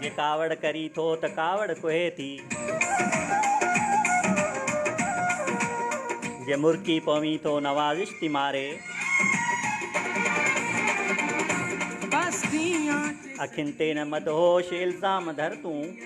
جي ڪاوڙ ڪرين ٿو ته ڪاوڙ ڪوهي ٿي. جي مرڪي پوين ٿو نوازش ٿي ماري. اکين تي نه مدهوش الزام ڌر تون.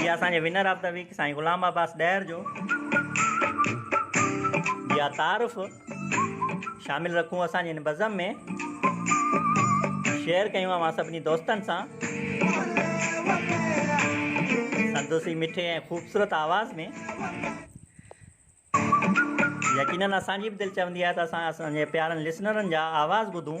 جي اسان جي ونر آف دي ويڪ سائين غلام عباس ڏهر جو جي تعارف شامل رکون اسان جي هن بزم ۾ شيئر ڪيون اوهان سڀني دوستن سان سندس هي مٺي ۽ خوبصورت آواز ۾ يقينن اسان جي به دل چوندي آهي ته اسان اسان جي پيارن لسنرن جا آواز ٻڌون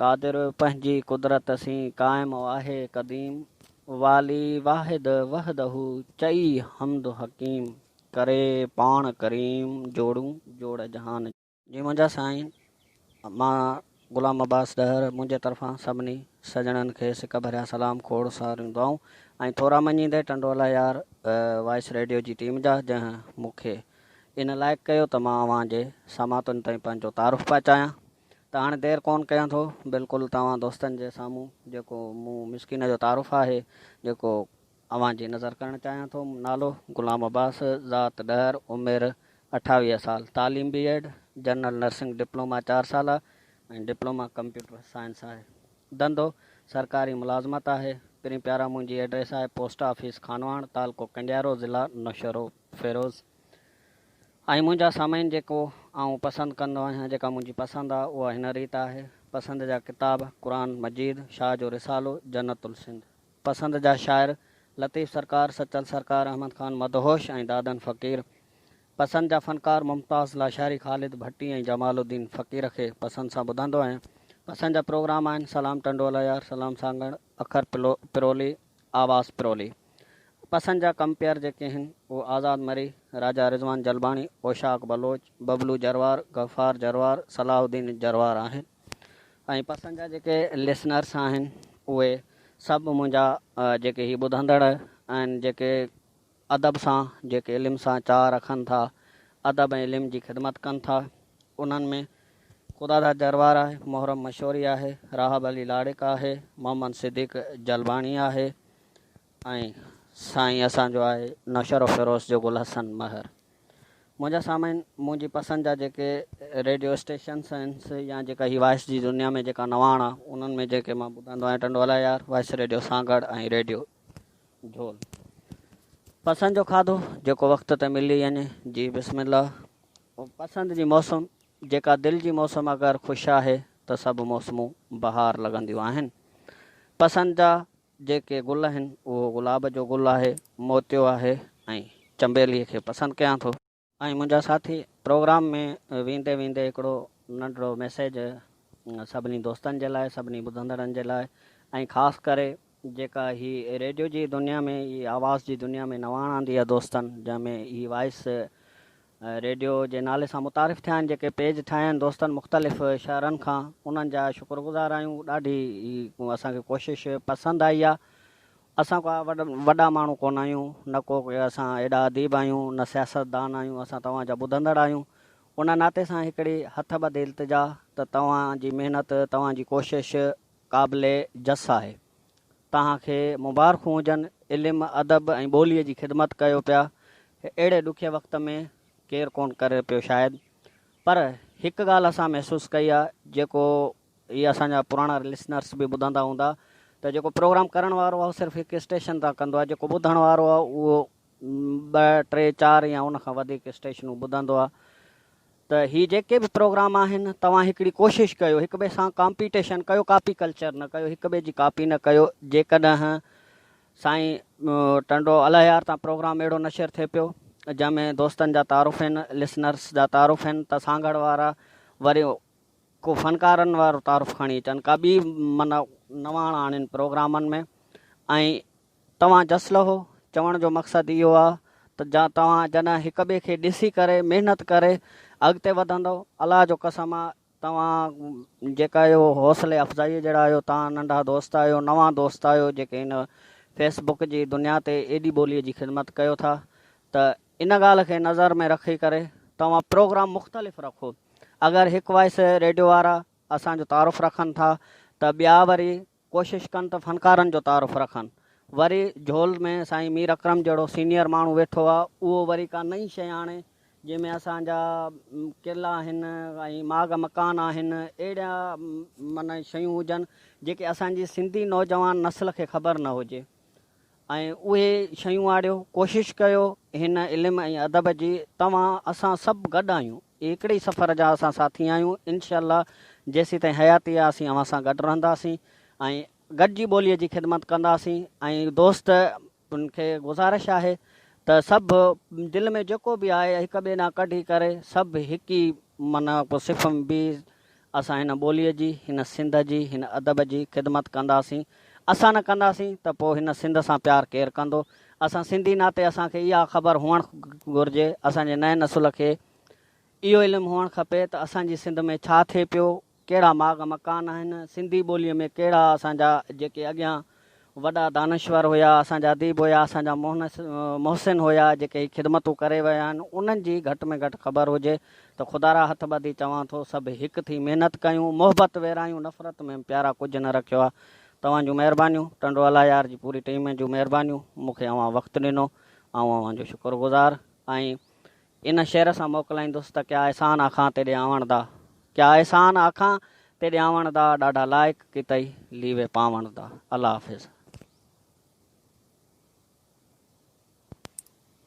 قادر پنهنجي قدرت سين قائم آهي قديم والي واحد وحده چئي حمد حڪيم ڪري پاڻ ڪريم جوڙون جوڙ جهان جي. جي منهنجا سائين مان غلام عباس ڏهر منهنجي طرفان سڀني سڄڻن کي سڪ ڀريا سلام کوڙ ساريون دعائون ۽ ٿورا مڃيندي ٽنڊولا يار وائس ريڊيو جي ٽيم جا جنهن مونکي ان لائق ڪيو ته مان اوهان جي سماعتن تائين پنهنجو تعارف پهچايان. ته هاڻي دير ڪونه ڪيان ٿو بلڪل توهان دوستن جي سامهون جيڪو مون مسڪين جو تعارف آهي جيڪو اوهان جي نظر ڪرڻ چاهيان ٿو نالو، غلام عباس، ذات، ڏهر، عمر، اٺاويهه سال، تعليم B Ed, general nursing diploma چار سالا ۽ ڊپلوما ڪمپيوٽر سائنس آهي ڌنڌو، سرڪاري ملازمت آهي پرين پيارا منهنجي ايڊريس آهي پوسٽ آفيس خانواڻ تعلقو ڪنڊيارو ضلع نوشهرو فيروز. ۽ منهنجا سامعين جيڪو آئون پسند ڪندو آهيان جيڪا منهنجي پسند آ اها هن ريت آهي، پسند جا ڪتاب، قرآن مجيد، شاهه جو رسالو، جنت السنڌ. پسند جا شاعر، لطيف سرڪار، سچل سرڪار، احمد خان مدهوش ۽ دادن فقير. پسند جا فنڪار، ممتاز لاشاري، خالد ڀٽي ۽ جمال الدين فقير کي پسند سان ٻڌندو آهيان. پسند جا پروگرام آهن، سلام ٽنڊو العيار، سلام سانگهڙ، اکر پرولي، آواز پرولي پسند جا ڪمپيئر جيڪي آهن اهي آزاد مري، راجا رضوان جلباڻي، اوشاق بلوچ، ببلو جروار، غفار جروار، صلاح الدين جروار آهن ۽ پسند جا جيڪي لسنرس آهن اهي سڀ منهنجا جيڪي هي ٻڌندڙ آهن جيڪي ادب سان جيڪي علم سان چاهه رکن ٿا، ادب ۽ علم جي خدمت ڪن ٿا، انهن ۾ خداداد جروار آهي، محرم مشوري آهي، راهب علي لاڙڪ آهي، محمد صديق جلباڻي آهي ۽ سائين اسان جو آهي نوشهرو فيروز جو گل حسن مهر. منهنجا سامعين منهنجي پسند جا جيڪي ريڊيو اسٽيشنس آهن سي يا جيڪا هي وائس جي دنيا ۾ جيڪا نواڻ آهي انهن ۾ جيڪي مان ٻڌندو آهيان Tando Allahyar, voice radio Sanghar ۽ radio. جھول، پسند جو کاڌو، جيڪو وقت تي ملي وڃي، جي بسم الله. پسند جي موسم، جيڪا دل جي موسم اگر خوش آهي ته سڀ موسمون بهار لڳنديون آهن. پسند جا جيڪي گل آهن، اهو گلاب جو گل آهي، موتيو آهي ۽ چنبيلي کي پسند ڪيان ٿو. ۽ منهنجا ساٿي پروگرام ۾ ويندي ويندي هڪڙو ننڍڙو ميسيج سڀني دوستن جي لاء سڀني ٻڌندڙن جي لاء ۽ خاص ڪري جيڪا هي ريڊيو جي دنيا ۾ هي آواز جي دنيا ۾ نواڻ آندي آهي دوستن جنهن ۾ هي وائس ريڊيو جي نالي سان متعارف ٿيا آهن جيڪي پيج ٺاهيا آهن دوستن مختلف شهرن کان انهن جا شڪرگذار آهيون ڏاڍي هي اسان کي ڪوشش پسند آئي آهي اسان ڪا وڏا ماڻهو ڪونه آهيون، نه ڪو اسان ايڏا اديب آهيون، نه سياستدان آهيون، اسان توهان جا ٻڌندڙ آهيون، ان ناتي سان هڪڙي هٿ ٻڌي التجا ته توهان جي محنت، توهان جي ڪوشش قابل جس آهي. توهان کي مبارخون هجن، علم، ادب ۽ ٻوليء جي خدمت ڪيو پيا، اهڙي ڏکئي وقت ۾ ڪير ڪونه ڪري پيو شايد، پر هڪ ڳالهه اسان محسوس ڪئي آهي، جيڪو اهي اسان جا پراڻا لسنرس به ٻڌندا هوندا ته جيڪو پروگرام ڪرڻ وارو آهي اهو صرف هڪ اسٽيشن تان ڪندو آهي جيڪو ٻڌڻ وارو آهي اهو ٻه ٽي چار يا ان کان وڌيڪ اسٽيشنون ٻڌندو آهي ته هي جيڪي به پروگرام آهن توهان هڪڙي ڪوشش ڪيو هڪ ٻئي سان ڪامپيٽيشن ڪيو ڪاپي ڪلچر نه ڪيو هڪ ٻئي جي ڪاپي نه ڪيو جيڪڏهن سائين ٽنڊو الهيار تان پروگرام اهڙو نشر ٿئي پيو جنهن ۾ دوستن جا تعارف آهن لسنرس جا تعارف آهن ته سانگهڙ وارا وري ڪو فنڪارن وارو تعارف کڻي اچن ڪا ٻي من نواڻ آڻين پروگرامن ۾ ۽ توهان جس لهو چوڻ جو مقصد اهو آ ته جا توهان جڏهن هڪ ٻئي کي ڏسي ڪري محنت ڪري اڳتي وڌندؤ الله جو قسم آ توهان جيڪا اهو حوصلي افزائي جهڙا آهيو توهان ننڍا دوست آهيو نوان دوست آهيو جيڪي هن فيس بڪ جي دنيا تي ايڏي ٻولي جي خدمت ڪيو ٿا ته ان ڳالهه کي نظر ۾ رکي ڪري توهان پروگرام مختلف رکو اگر هڪ وائس ريڊيو وارا اسان جو تعارف رکن ٿا ته ٻيا وري ڪوشش ڪن ته فنڪارن جو تعارف رکن وري جهول ۾ سائين مير اڪرم جهڙو سينيئر ماڻهو ويٺو آ اهو وري ڪا نئين شئي آڻي جنهن ۾ اسان جا قلعا آهن ۽ ماڳ مڪان آهن اهڙا من شيون هجن جيڪي اسان جي سنڌي نوجوان نسل کي خبر نه هجي. ۽ اهي شيون آڙيو، ڪوشش ڪيو هن علم ۽ ادب جي توهان اسان سڀ گڏ آهيون هڪڙي ئي سفر جا اسان ساٿي آهيون انشاء الله جيسيتائين حياتي آهي اسين اوهان سان گڏ رهنداسين ۽ گڏجي ٻولي جي خدمت ڪنداسين ۽ دوست ان کي گذارش آهي ته سڀ دل ۾ جيڪو به آهي هڪ ٻئي ڏانهن ڪڍي ڪري سڀ هڪ ئي معنيٰ صف ۾ بيهي اسان هن ٻوليء جي، هن سنڌ جي، هن ادب جي خدمت ڪنداسين. اسان نه ڪنداسين ته پوء هن سنڌ سان پيار ڪير ڪندو؟ اسان سنڌي ناتي اسان کي اها خبر هئڻ گهرجي، اسان جي نئين نسل کي اهو علم هئڻ کپي ته اسان جي سنڌ ۾ ڇا ٿئي پيو، ڪهڙا ماڳ مڪان آهن، سنڌي ٻوليء ۾ ڪهڙا اسان جا جيڪي اڳيان وڏا دانشور هيا، اسان جا اديب هيا، اسان جا محسن هيا، جيڪي هي خدمتون ڪري ويا آهن، انهن جي گهٽ ۾ گهٽ خبر هجي ته خدارا هٿ ٻڌي چوان ٿو، سڀ هڪ ٿي محنت ڪيون، محبت ويرايون، نفرت ۾ پيارا ڪجهه نه رکيو آ. توهان جون مهربانيون، ٽنڊو الله يار جي پوري ٽيم جون مهربانيون، مون کي اوهان وقت ڏنو، آئون اوهان جو شڪر گذار آهين. ان شعر سان موڪلائيندس ته ڪيا احسان آکان تيڏي آوڻ دا ڪيا احسان آکان تيڏي آوڻ دا ڏاڍا لائق ڪيتئي ليوي پاوڻ دا الله حافظ.